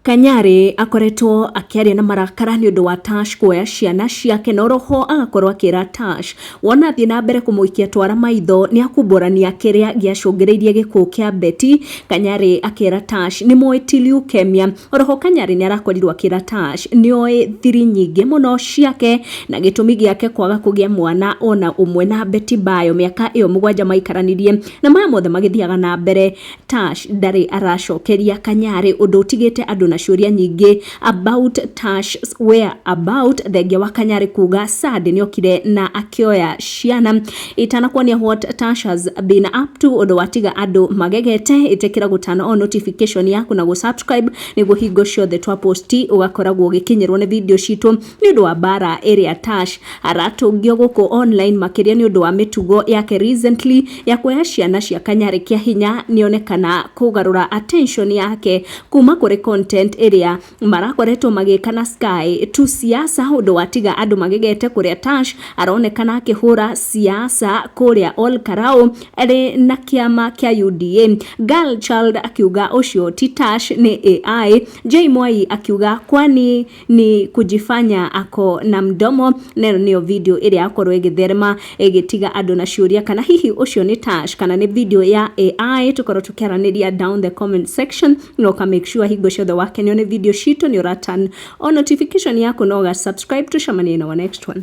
Kanyari akoretwo akĩaria na marakara nĩ ũndũ wa Tash kuoya ciana ciake na oroho agakorwo akĩra Tash wona athiĩ na mbere kũmũikia twara maitho nĩ akumbũrania kĩrĩa gĩacũngĩrĩirie gĩkuũ kĩa Betty. Kanyari akera Tash nĩ moĩ ti leukemia. Oroho Kanyari nĩ arakorirwo akĩra Tash nĩ oĩ thiri nyingĩ mũno ciake na gĩtũmi gĩake kwaga kũgĩa mwana ona ũmwe na Betty Bayo mĩaka ĩyo mũgwanja maikaranirie. Na maya mothe magĩthiaga na mbere Tash ndarĩ aracokeria Kanyarĩ ũndũ ũtigĩte andũ na ciũria nyingĩ about Tash where about thengia wa Kanyarĩ kuga Sad nĩokire na akĩoya ciana itanakuonia what Tash has been up to ũndũ watiga andũ magegete ĩtekĩra gũtana o notification yaku na gũsubscribe nĩguo hingo ciothe twa post ũgakoragwo ũgĩkinyĩrwo nĩ video citũ nĩ ũndũ wa mbara ĩrĩa Tash aratũngio gũkũ online makĩria nĩ ũndũ wa mĩtugo yake recently ya kuoya ciana cia kanyarĩ kĩa hinya nĩonekana kũgarũra attention yake kuma kũrĩ content ĩrĩa marakoretwo magĩka na Sky tu siasa ũndũ watiga andũ magegete kũrĩa Tash aronekana akĩhũra siasa kũrĩa Ol Karau arĩ na kĩama kĩa UDA girl child akiuga ũcio ti Tash nĩ AI Jay Mwai akiuga kwani ni kujifanya ako na mdomo na ĩno nĩyo video ĩrĩa yakorwo ĩgĩtherema ĩgĩtiga andũ na ciũria kana hihi ũcio nĩ Tash kana nĩ video ya AI tũkorwo tũkĩaranĩria down the comment section na ũka make sure hingo ciothe wakenio nĩ video citũ nĩ ũra turn on notification yaku na ũga subscribe tũcemanie na our next one